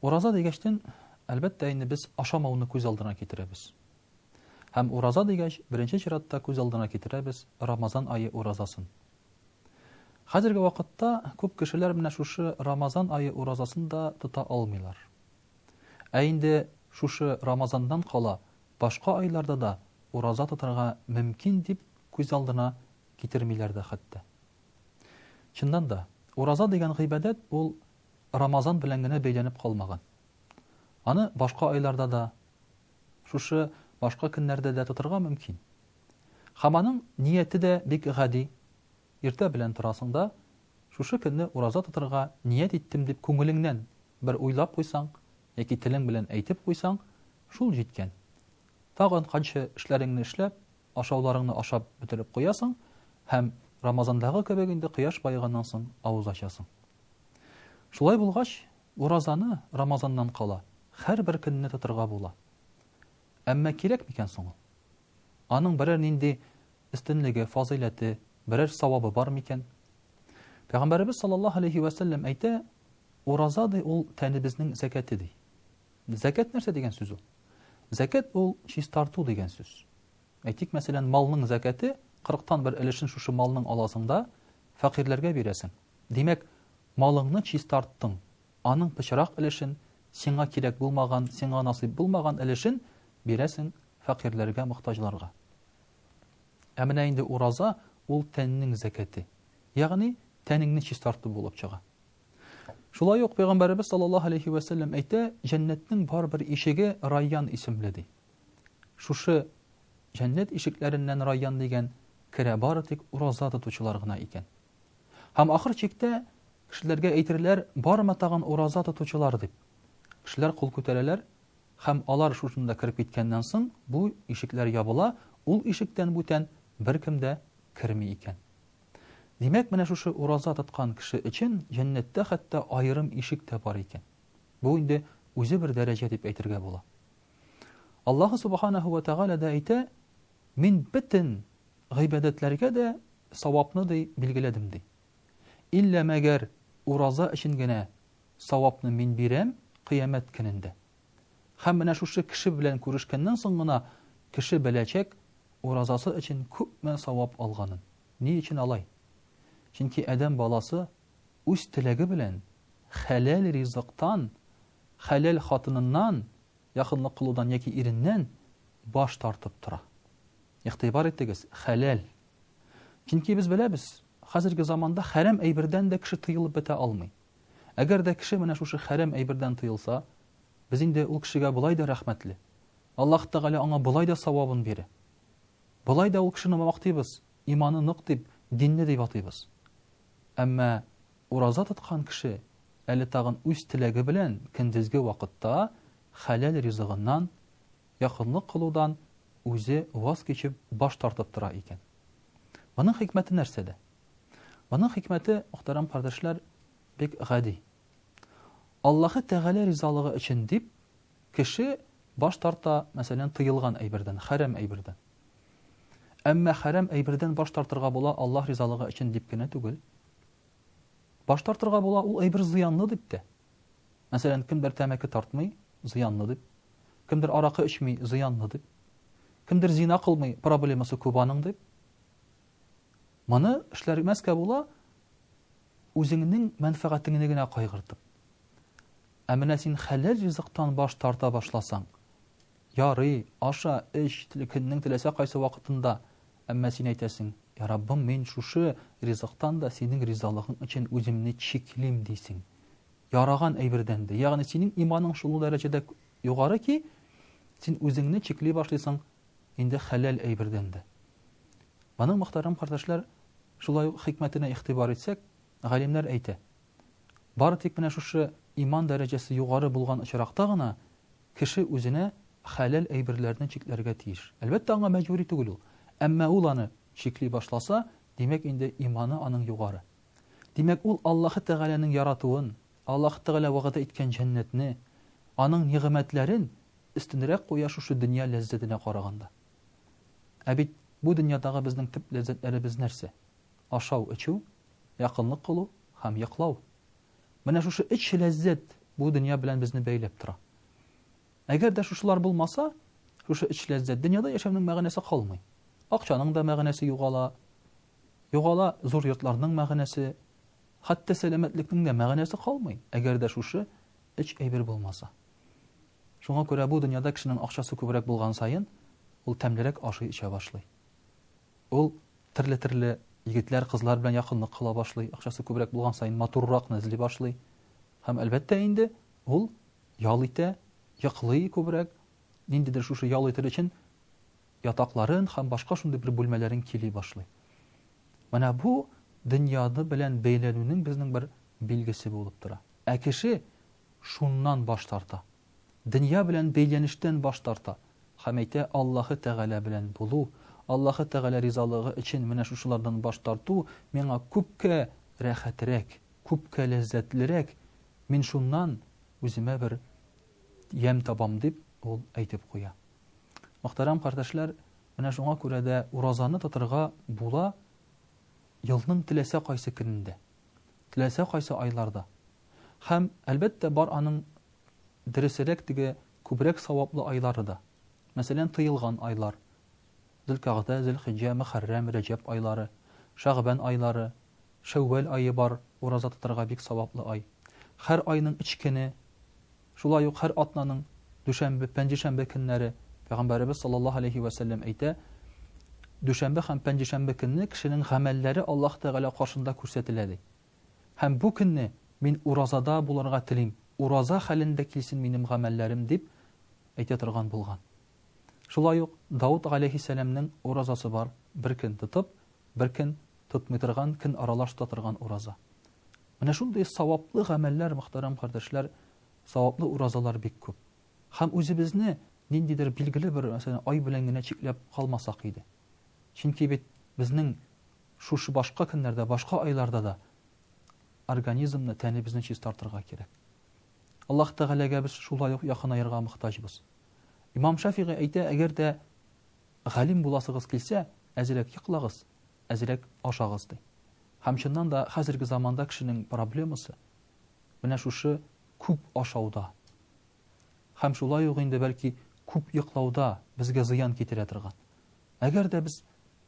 Ураза дигәчтен, әлбәттә инде без ашамауны күз алдына китерәбез. Һәм ураза дигәч, беренче чиратта күз алдына китерәбез Рамазан ае уразасын. Хәзерге вакытта күп кешеләр менә шушы Рамазан ае уразасын да тота алмыйлар. Ә инде шушы Рамазаннан кала башка айларда да ураза тотарга мөмкин дип күз алдына китермиләр дә хәтта. Чыннан да, ураза дигән гыйбадәт ул Рамазан белән генә бәйләнеп калмаган. Аны башка айларда да, шушы башка көннәрдә дә тотырга мөмкин. Һәм аның нияте дә бик гади. Иртә белән торасың да, шушы көнне ураза тотырга ният иттем дип күңелеңнән бер уйлап куйсаң яки телең белән әйтеп куйсаң, шул җиткән. Тагын канчы эшләреңне эшләп, Ашауларыңны ашап бетереп куясың һәм Рамазандагы кебек инде кояш баеганнан соң авыз ачасың. Шулай булгач, уразаны Рамазаннан кала һәрбер көнне тотырга була. Әмма кирәк микән соң ул? Аның берәр нинди өстенлеге, фазыйләте, берәр савабы бар микән? Пәйгамбәребез саллаллаһу алейһи вә сәлләм әйтә, Ураза ди ул тәнебезнең зәкәте ди. Зәкәт нәрсә дигән сүз ул? Зәкәт ул чистарту дигән сүз. Әйтик, мәсәлән, малның зәкәте 40тан бер өлешен шушы малның аласыңда фәкыйрьләргә бирәсең. Димәк, малыңны чистарттың. Аның пычрак өлешен, сиңа кирәк булмаган, сиңа насыйп булмаган өлешен бирәсең фәкыйрьләргә, мохтаҗларга. Ә менә инде ураза ул тәннең зәкәте. Ягъни тәнеңне чистарту булып чыга. Шулай ук пәйгамбәребез саллаллаһу алейхи вә сәлләм әйтә, җәннәтнең бар бер ишеге Райян исемле ди. Шушы җәннәт ишекләреннән Райян дигән керә бары тик ураза тотучылар гына икән. Һәм ахыр чиктә кешеләргә әйтерләр, барма тагын ураза тотучылар дип. Кешеләр кул күтәрәләр, һәм алар шушында кереп киткәннән соң бу ишекләр ябыла, ул ишектән бүтән беркем дә керми икән. Димәк, менә шушы ураза тоткан кеше өчен җәннәттә хәтта аерым ишек тә бар икән. Бу инде үзе бер дәрәҗә дип әйтергә була. Аллаһу субханаһу ва тәгалә дә әйтә, Мин бөтен гыйбадәтләргә дә савапны ди билгеләдем ди. Иллә мәгәр ураза өчен генә савапны мин бирәм кыямәт көнендә. Һәм менә шушы кеше белән күрешкәннән соң гына кеше беләчәк, уразасы өчен күпме савап алганын. Ни өчен алай? Чөнки адәм баласы үз теләге белән хәләл ризыктан, хәләл хатыныннан, якынлык кылудан яки иреннән баш тартып тора. Игътибар итегез, хәләл. Чөнки без беләбез, хәзерге заманда хәрам әйбердән дә кеше тыелып бетә алмый. Әгәр дә кеше менә шушы хәрәм әйбердән тыелса, без инде ул кешегә болай да рәхмәтле. Аллаһ Тәгалә аңа болай да савабын бирә. Болай да ул кешене мактыйбыз, иманы нык дип, динле дип атыйбыз. Әмма ураза тоткан кеше әле тагын үз теләге белән көндезге вакытта хәләл ризыгыннан, якынлык кылудан үзе ваз кичеп, баш тартып тора икән. Моның хикмәте нәрсәдә? Моның хикмәте, мөхтәрәм кардәшләр, бик гади. Аллаһы Тәгалә ризалыгы өчен дип кеше баш тарта, мәсәлән, тыелган әйбердән, хәрам әйбердән. Әмма хәрам әйбердән баш тартырга була Аллаһ ризалыгы өчен дип кенә түгел. Баш тартырга була ул әйбер зыянлы дип тә. Мәсәлән, кемдер тәмәке тартмый, зыянлы дип. Кемдер аракы эчми, зыянлы дип. Кемдер зина кылмый, проблемасы күп аның дип. Моны эшләргмәскә була, үзеңнең мәнфәгатеңне генә кайгыртып. Ә менә син хәләл ризыктан баш тарта башласаң, ярый, аша, эч, көннең теләсә кайсы вакытында, әмма син әйтәсең, Я Раббым, мин шушы ризыктан да синең ризалыгың өчен үземне чиклим, дисең. Яраган әйбердән дә. Ягъни синең иманың шул дәрәҗәдә югары ки, син үзеңне чикли башлыйсың инде хәләл әйбердән дә. Моның, мөхтәрәм кардәшләр, шулай ук хикмәтенә игътибар итсәк, галимнәр әйтә, бары тик менә шушы иман дәрәҗәсе югары булган очракта гына кеше үзенә хәләл әйберләрне чикләргә тиеш. Әлбәттә, аңа мәҗбүри түгел ул. Әмма ул аны чикли башласа, димәк инде иманы аның югары. Димәк, ул Аллаһы Тәгаләнең яратуын, Аллаһы Тәгалә вәгъдә иткән җәннәтне, Аның нигъмәтләрен өстенрәк куя шушы дөнья ләззәтенә караганда. Ә бит бу дөньядагы безнең төп ләззәтләребез нәрсә? Ашау, эчү, якынлык кылу һәм йоклау. Менә шушы өч ләззәт бу дөнья белән безне бәйләп тора. Әгәр дә шушылар булмаса, шушы өч ләззәт дөньяда яшәүнең мәгънәсе калмый. Акчаның да мәгънәсе югала, югала зур йортларның мәгънәсе, хәтта сәламәтлекнең дә мәгънәсе калмый, әгәр дә шушы Өч әйбер булмаса. Шуңа күрә бу дөньяда кешенең акчасы күбрәк булган саен, ул тәмлерәк ашый-эчә башлый. Ул терле-терле егетләр, кызлар белән якынлык кыла башлый, акчасы күбрәк булган саен матурракны эзли башлый. Һәм, әлбәттә инде, ул ял итә, йоклый күбрәк, ниндидер шушы ял итер өчен ятакларын һәм башка шундый бер бүлмәләрен кили башлый. Менә бу дөньяны белән бәйләнүнең безнең бер билгесе булып тора. Ә кеше шуннан баш тарта. Дөнья белән бәйләнештән баш тарта. Һәм әйтә, Аллаһы Тәгалә белән булу, Аллаһы Тәгалә ризалыгы өчен менә шушылардан баш тарту миңа күпкә рәхәтрәк, күпкә ләззәтлерәк, мин шуннан үземә бер ямь табам, дип ул әйтеп куя. Мөхтәрәм кардәшләр, менә шуңа күрә дә уразаны тотырга була елның теләсә кайсы көнендә. теләсә кайсы айларда. Һәм, әлбәттә, бар аның дөресерәк теге күбрәк саваплы айлары да. Мәсәлән, тыелган айлар, Зөлкәгъдә, Зөлхиҗҗә, Мөхәррәм, Рәҗәб айлары, Шәгъбән айлары, Шәүвәл ае бар, ураза тотарга бик саваплы ай. Һәр айның өч көне Шулай ук һәр атнаның дүшәмбе, пәнҗешәмбе көннәре Пәйгамбәребез саллаллаһу галәйһи вә сәлләм әйтә, Дүшәмбе һәм пәнҗешәмбе көнне кешенең гамәлләре Аллаһ Тәгалә каршында күрсәтелә, ди. Һәм бу көнне мин уразада булырга телим, ураза хәлендә килсен минем гамәлләрем, дип әйтә торган булган. Шулай ук Давыт галәйһиссәламнең уразасы бар, бер көн тотып, Бер көн тотмый торган, көн аралаш тота торган ураза. Менә шундый саваплы гамәлләр, мөхтәрәм кардәшләр, саваплы уразалар бик күп. Һәм үзебезне ниндидер билгеле бер, мәсәлән, ай белән генә чикләп калмасак иде. Чөнки бит безнең шушы башка көннәрдә, башка айларда да организмны, тәнебезне чистартырга кирәк. Аллаһ Тәгаләгә без шулай ук якынаерга мохтаҗбыз. Имам Шафигый әйтә, әгәр дә Галим буласыгыз килсә, әзрәк йоклагыз, әзрәк ашагыз, ди. Һәм чыннан да хәзерге заманда кешенең проблемасы менә шушы күп ашауда. Һәм шулай ук инде бәлки күп йоклауда безгә зыян китерә торган. Әгәр дә без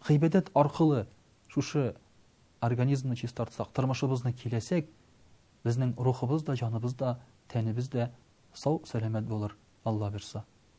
гыйбадәт аркылы шушы организмны чистартсак, тормышыбызны киләсәк, безнең рухыбыз да, җаныбыз да, тәнебез дә сау-сәламәт булыр, Алла бирса.